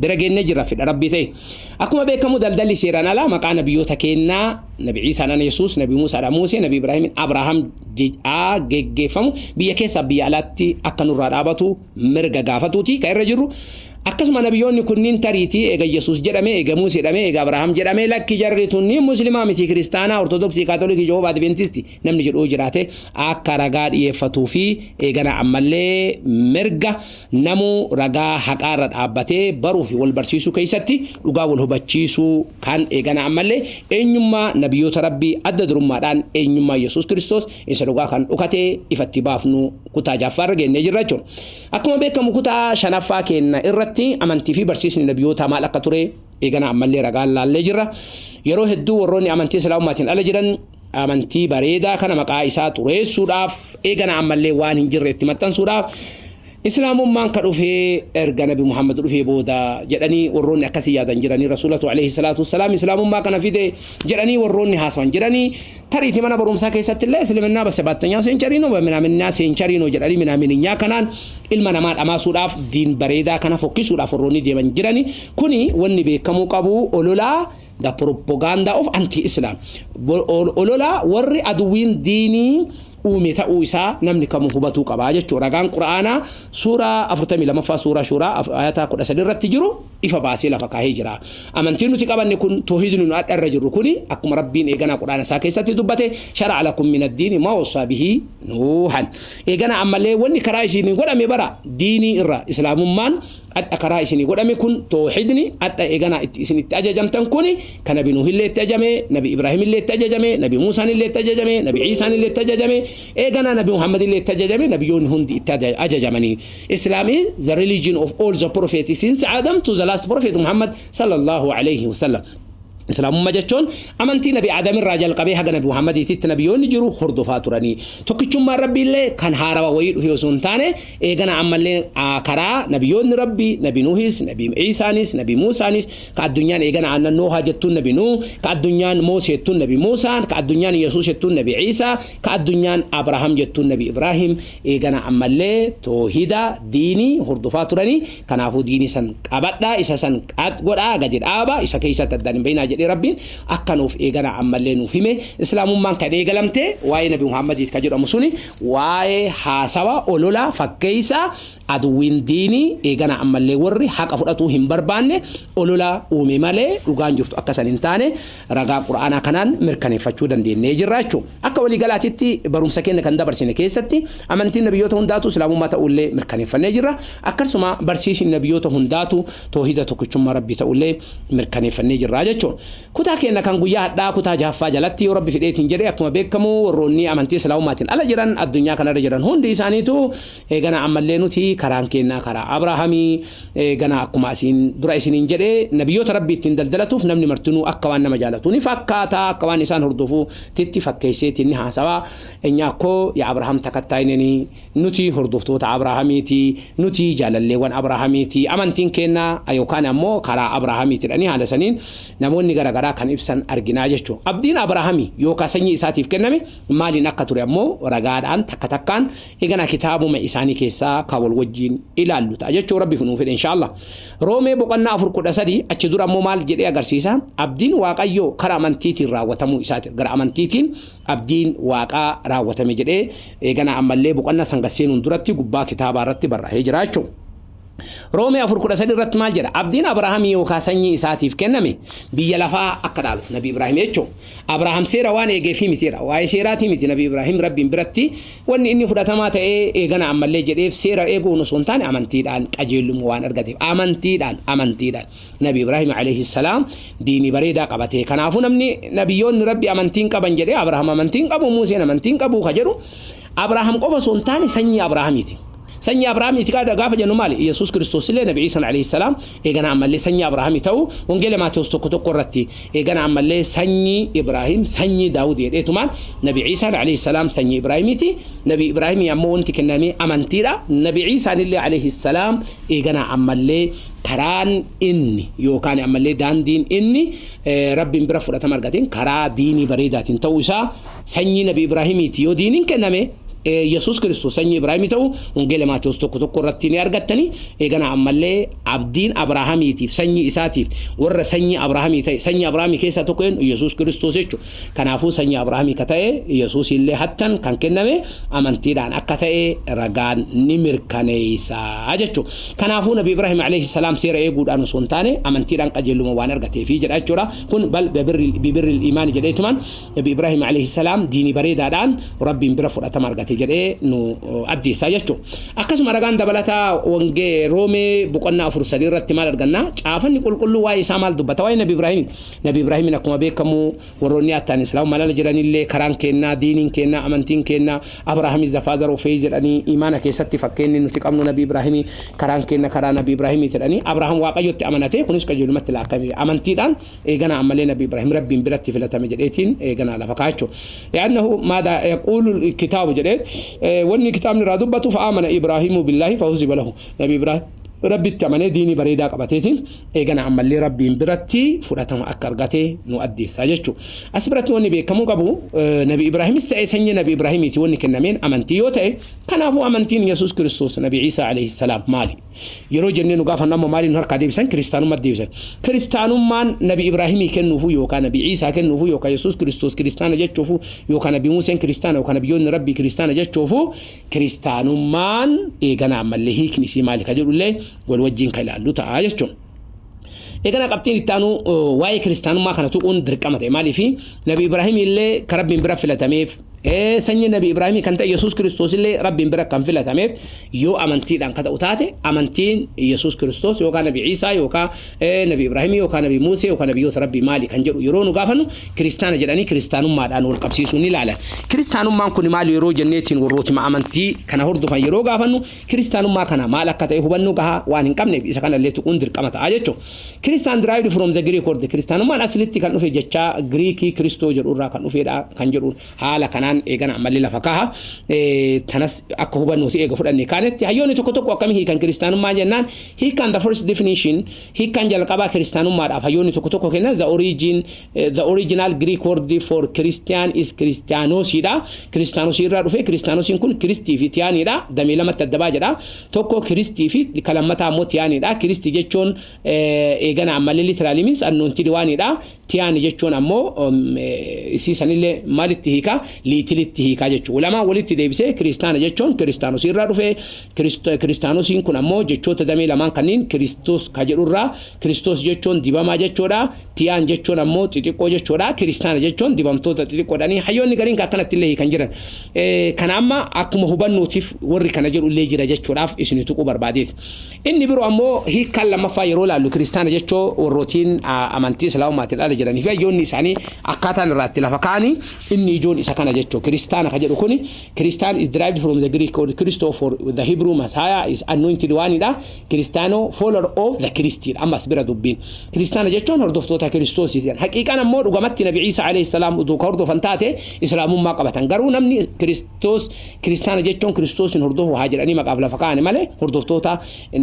bira geennee jirra fedha rabbii ta'e akkuma beekamu daldalli seeraan alaa maqaa nabiyyoota keennaa nabi ciisaadhaan yesuus nabi muusaadhaan muusee nabi ibraahimin abrahaam jedhaa geggeeffamu biyya keessaa biyya alaatti akka nurraa dhaabatu mirga gaafatuuti kan irra jirru akkasuma nabiyyoonni kunniin tariitii eega yesuus jedhame eega muusee jedhame eega abrahaam jedhame lakki jarri tunniin muslimaa miti kiristaanaa ortodoksii kaatolikii jehoovaa adventisti namni jedhu yoo jiraate akka ragaa dhiyeeffatuu fi eeganaa ammallee mirga namuu ragaa haqaa irra dhaabbatee baruu fi wal barsiisuu keessatti dhugaa wal hubachiisuu kan eeganaa ammallee eenyummaa nabiyoota rabbii adda durummaadhaan eenyummaa Yesuus Kiristoos isa dhugaa kan dhokatee ifatti baafnu kutaa jaffaa irra geennee jirra jechuudha. Akkuma beekamu kutaa shanaffaa keenna irratti amantii fi barsiisni nabiyootaa maal akka ture eeganaa ammallee ragaan laallee jirra. Yeroo hedduu warroonni amantii islaamummaatiin ala jiran Amantii bareedaa kana maqaa isaa xureessuudhaaf eegana ammallee waan hin jirre itti maxxansuudhaaf Islaamummaan ka dhufee erga Nabi Muhammad dhufee booda jedhanii warroonni akkasii yaadan jiranii Rasuulatu alayhi salaatu wassalaam Islaamummaa kana fide jedhanii warroonni haasawan jiranii tariitii mana barumsaa keessatti illee Isliminnaa basebaatteenyaa seenchariinoo minaaminaa seenchariinoo jedhanii minaaminaa kanaan ilma namaa dhamaasuudhaaf diin bareedaa kana fokkisuudhaaf warroonni deeman jiranii kuni wanni beekamuu qabu ololaa the propaganda of anti-Islam ololaa warri aduwiin diinii uume ta'uu isaa namni kamuu hubatuu qaba jechuudha. Ragaan Qura'aanaa suuraa 42ffaa suuraa shuuraa ayataa 13 irratti jiru ifa baasee lafa kaahee jira. Amantiin nuti qabanne kun toohidni nu adda irra jirru kuni akkuma Rabbiin eeganaa Qura'aana isaa keessatti dubbate shara'a lakum min ad-diini ma wassaa bihi nuuhan. Eeganaa ammallee wanni karaa isiin godhame bara diinii irra islaamummaan adha karaa isini godhame kun toohidni adha eganaa itti isin itti ajajamtan kun ka nabi nuuhillee itti ajame nabi ibraahimillee itti ajajame nabi muusaanillee itti ajajame nabi ciisaanillee itti ajajame eeganaa nabi muhammadillee itti ajajame nabiyoonni hundi itti aja- ajajamanii islaam is the religion of all the prophets since adam to the last prophet muhammad sallallahu alayhi wasallam Islaamummaa jechuun amantii nabi Aadam irraa jalqabee haga nabi Muhammadiititti nabiyoonni jiru hordofaa turanii. Tokkichummaan Rabbiillee kan haarawa wayii dhufe osoo hin taane eegana ammallee aa, karaa nabiyoonni Rabbi nabi Nuhis, nabi Iisaanis, nabi Muusaanis ka addunyaan eegana aannan Noohaa jettuun nabi Nuuh, ka addunyaan Moosee jettuun nabi Muusaan, ka addunyaan Yesuus jettuun nabi Iisaa, ka addunyaan Abrahaam jettuun nabi Ibraahim eegana ammallee toohida, diinii, hordofaa turanii Kanaafuu diini san qabadhaa, isa san qat godhaa, gadi dhaaba, isa keessatti addaan hin bahinaa jedhee Rabbiin akka nuuf eeganaa ammallee nuuf hime. Islaamummaan kan eegalamte waa'ee Nabi Muhammadiit ka jedhamu suni waa'ee haasawa, olola, fakkeessa aduwwiin diinii eeganaa ammallee warri haqa fudhatuu hin barbaanne olola uume malee dhugaan jirtu akka san hin taane Ragaa Qur'aanaa kanaan mirkaneeffachuu dandeennee jirra jechu. Akka walii galaatitti barumsa keenya kan dabarsine keessatti amantiin nabiyyoota hundaatu islaamummaa ta'uullee mirkaneeffannee jirra. Akkasuma barsiisni nabiyyoota hundaatu toohida tokkichummaa rabbii ta'uullee mirkaneeffannee jirra jechu. Kutaa keenya kan guyyaa hadhaa kutaa jahaffaa jalatti yoo rabbi fidheetiin jedhe akkuma beekamu warroonni amantii islaamummaatiin ala jiran addunyaa kanarra jiran hundi isaaniitu Eeganaa ammallee nuti karaan keennaa karaa Abrahaamii, eeganaa akkuma asiin dura isiniin jedhe, nabiyyoota Rabbii ittiin daldalatuuf namni martinuu akka waan nama jaalatuu ni fakkaata, akka waan isaan hordofuu titti fakkeesseetiin ni haasawa, enyaa koo yaa Abrahaam takattaayineni, nuti hordoftoota Abrahaamii ti, nuti jaalalleewwan Abrahaamii ti, amantiin keennaa ayookaan ammoo karaa Abrahaamii tidhanii haala saniin namoonni gara garaa kan ibsan arginaa jechu. Abdiin Abrahaamii yookaa sanyii isaatiif kenname maaliin akka ture ammoo ragaadhaan takka takkaan Eeganaa kitaabuma isaanii keessaa ka wal wajjiin ilaallu ta'a jechuu rabbiif nuuf fedhe inshaallah. Roomee boqonnaa 4 13 achi dura immoo maal jedhee agarsiisa? Abdiin Waaqayyoo kara amantiitiin raawwatamuu isaati. Gara amantiitiin abdiin Waaqaa raawwatame jedhee eeganaa ammallee boqonnaa san gad seenuun duratti gubbaa kitaabaa irratti barraa'ee jira jechuudha. Roomee 4:13 irratti maal jedha? Abdiin Abrahaamii yookaan sanyii isaatiif kenname biyya lafaa akka dhaaluuf Nabi Ibraahim jechuun Abrahaam seera waan eegeefii miti jedha. Waa'ee seeraatii miti Nabi Ibraahim Rabbiin biratti wanni inni fudhatamaa ta'ee eegana ammallee jedheef seera eeguun osoo hin taane amantiidhaan qajeelummaa waan argateef amantiidhaan amantiidhaan Nabi Ibraahim alayhi salaam diinii bareedaa qabatee kanaafuu namni nabiyyoonni Rabbi amantiin qaban jedhee Abrahaam amantiin qabu Muuseen amantiin qabu ka jedhu Abrahaam qofa osoo hin taane sanyii Abrahaamiiti. Sanyii Abrahaamii ti qaada gaafa jennu maali? Yesuus Kiristoos illee Nabi Iisaan alayhi salaam eegana ammallee sanyii Abrahaamii ta'uu Wangeela Maatewos tokko tokko irratti eegana ammallee sanyii Ibraahim sanyii Daawud jedheetumaan Nabi Iisaan alayhi salaam sanyii Ibraahimii ti Nabi Ibraahimii ammoo wanti kenname amantii dha Nabi Iisaan illee alayhi salaam eegana ammallee karaan inni yookaan ammallee daandiin inni Rabbiin bira fudhatama argateen karaa diinii bareedaatiin ta'uu isaa sanyii nabi Ibraahimiiti yoo diiniin kenname Yesuus Kiristoos sanyii Ibraahimii ta'u Wangeela Maatewos tokko tokko irratti ni argattanii eeganaa ammallee abdiin Abrahaamiitiif sanyii isaatiif warra sanyii Abrahaamii ta'e sanyii Abrahaamii keessaa tokko eenyu Yesuus Kiristoos jechuudha. Kanaafuu sanyii Abrahaamii ka ta'e Yesuus illee hattan kan kenname amantiidhaan akka ta'e ragaan ni mirkaneessa jechuudha. Kanaafuu nabi Ibraahim alayhi salaam seera eeguudhaan osoo hin taane amantiidhaan qajeeluma waan argateefi jedha jechuudha. Kun bal bibirri imaani jedheetumaan Nabi Ibraahim alayhi salaam diinii bareedaadhaan Rabbiin bira fudhatama argate jedhee nu addeessaa jechuudha. Akkasuma ragaan dabalataa wangee Roomee boqonnaa afur sadii irratti maal arganna? Caafanni qulqulluu waa'ee isaa maal dubbata? Waa'ee Nabi Ibraahim. Nabi Ibraahimiin akkuma beekamu warroonni attaan Islaam malala jedhanillee karaan keennaa, diiniin keennaa, amantiin keennaa Abraaham is the father of faith jedhanii imaana keessatti fakkeenni nuti qabnu Nabi Ibraahimi karaan keenna karaa Nabi Ibraahimiiti jedhanii Abraaham Waaqayyotti amanatee kunis qajeelumatti laakkame amantiidhaan eeganaa ammallee nabi ibrahim rabbiin biratti filatame jedheetiin eeganaa lafa kaachu li'annahu maada yaquulu kitaabu jedhee wanni kitaabni irraa dubbatu fa'aamana ibraahimu billaahi fahuziba lahu nabi ibrahim rabbitti amanee diinii bareedaa qabateetiin eegana ammallee rabbiin biratti fudhatama akka argate nu addeessaa jechuu as biratti wanni beekamuu qabu nabi ibraahimis ta'e sanyii nabi ibraahimiiti wanni kennameen amantii yoo ta'e kanaafuu amantiin yesus kiristoos nabi ciisaa alayhi salaam maali Yeroo jennee nu gaafannu amma maaliin nu harkaa deebisan? Kiristaanummaatti deebisan. Kiristaanummaan Nabi Ibraahimii kennuufuu yookaan Nabi Ciisaa kennuufuu yookaan Yesuus Kiristoos kiristaana jechuufuu yookaan Nabi Museen kiristaana yookaan Nabiyyoonni Rabbii kiristaana jechuufuu kiristaanummaan eegana ammallee hiikni isii maali ka jedhullee wal wajjiin ka ilaallu ta'a jechuun. Eegana qabxiin itti aanu waa'ee kiristaanummaa kana tuquun dirqama ta'e maaliifi Nabi Ibraahimii illee ka Rabbiin bira filatameef Ee, sanyii Nabi Ibraahimii kan ta'e Yesuus Kiristoosillee Rabbiin bira kan filatameef yoo amantiidhaan ka ta'u taate, amantiin Yesuus Kiristoos yookaan Nabi Iisaa yookaan ee, Nabi Ibraahimii yookaan Nabi Muusee yookaan Nabiyyoota Rabbii maali kan jedhu yeroo nu gaafannu Kiristaana jedhanii Kiristaanummaadhaan wal qabsiisuun ni ilaalan. Kiristaanummaan kuni maali yeroo jenneetiin warrootima amantii kana hordofan yeroo gaafannu Kiristaanummaa kana maal akka ta'e hubannoo gahaa waan hin qabneef isa kanallee tuquun dirqama ta'a jechuudha. Kiristaan derived from the Greek word Kiristaanummaan aslitti kan dhufe jechaa Giriikii Kiristoo jedhu irraa kan dhufeedha kan jedhu haala kanaan eegana ammallee lafa kaaha. Kanas akka hubannooti eega fudhanne kaanetti hayyoonni tokko tokko akkamii hiikan kiristaanummaa jennaan hiikaan the first definition hiikaan jalqabaa kiristaanummaadhaaf hayyoonni tokko tokko kennan the origin The original Greek word for Christian is Christianos dha. Christianos irraa dhufe. Christianos kun Kiristii fi Tiyaanii dha. Damee lamatti adda ba'a jedha. Tokko Kiristii fi kan lammataa immoo Tiyaanii dha. Kiristii jechuun eegana ammallee literally means anointed waan dha. Tiyaanii jechuun ammoo isii sanillee maalitti hiika? Liitilitti hiika jechuudha. Lamaan walitti deebisee kiristaana jechuun Christianos irraa dhufe. Christianos kun ammoo jechoota damee lamaan kanneen Kiristos ka jedhurraa Kiristos jechuun dibamaa jechuudha. Tiyaan jechuun ammoo xixiqqoo jechuudha. Kiristaana jechuun dibamtoota xixiqqoodhani. Hayyoonni gariin kan akkanatti illee hiikan jiran. Eh, Kana amma akkuma hubannuutiif warri kana jedhu illee jira jechuudhaaf isin tuquu barbaadeeti. Inni biroo ammoo hiikkaan lammaffaa yeroo ilaallu kiristaana jechoo warrootiin ah, amantii islaamumaatiin ala jiranii fi hayyoonni isaanii akkaataan irraatti lafa kaa'anii inni ijoon isa kana jechuu kiristaana ka jedhu kuni kiristaan is derived from the Greek word Christo for the Hebrew Messiah is anointed one dha. Kiristaanoo, follower of the Christ dha. Ammas bira dubbiin. Kiristaana jechuun hordoftoota Kiristoos jedhan. Haqiiqaan ammoo dhugamatti Nabi Ciisa alayhi salaam utuu ka hordofan taate Islaamummaa qabatan. Garuu namni Kiristoos Kiristaana jechuun Kiristoosin hordofu haa jedhanii maqaaf lafa kaa'ani malee hordoftoota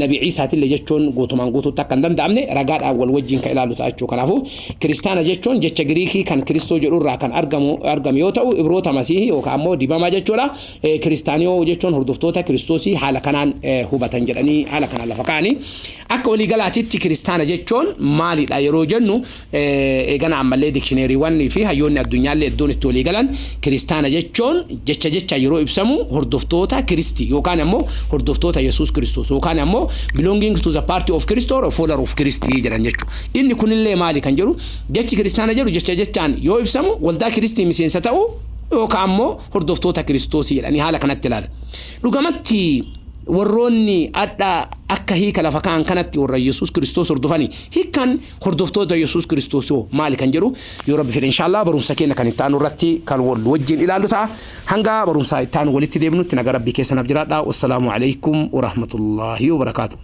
Nabi Ciisaatille jechuun guutumaan guutuutti akka hin danda'amne ragaadhaan wal wajjin ka ilaalu ta'a jechuu. Kanaafuu Kiristaana jechuun jecha Giriikii kan Kiristoo jedhu irraa kan argamu argame yoo ta'u Ibroota Masiihii yookaan ammoo dibamaa jechuudha. Kiristaaniyoo jechuun hordoftoota Kiristoosii haala kanaan hubatan jedhanii haala kanaan lafa kaa'anii akka waliigalaatitti kiristaana jechuun maalidha yeroo jennu eegana ammallee dikshineeriiwwan fi hayyoonni addunyaallee iddoon itti waliigalan kiristaana jechuun jecha jecha yeroo ibsamu hordoftoota Kiristi yookaan ammoo hordoftoota Yesuus Kiristoos yookaan ammoo belonging to the party of Christ or follower of Christ jedhan jechuudha. Inni kunillee maali kan jedhu jechi kiristaana jedhu jecha jechaan yoo ibsamu waldaa Kiristii miseensa ta'uu yookaan ammoo hordoftoota Kiristoosii jedhanii haala kanatti ilaala. Dhugamatti warroonni adha akka hiika lafa ka'an kanatti warra Yesuus Kiristoos hordofani. Hiikkaan hordoftoota Yesuus Kiristoos hoo maali kan jedhu yoo rabbi fedhe inshaallah barumsa keenya kan itti aanu irratti kan wal wajjin ilaallu ta'a. Hanga barumsaa itti aanu walitti deebinutti naga rabbii keessanaaf jiraadha. Wassalaamu alaikum warahmatullaahi wabarakaatu.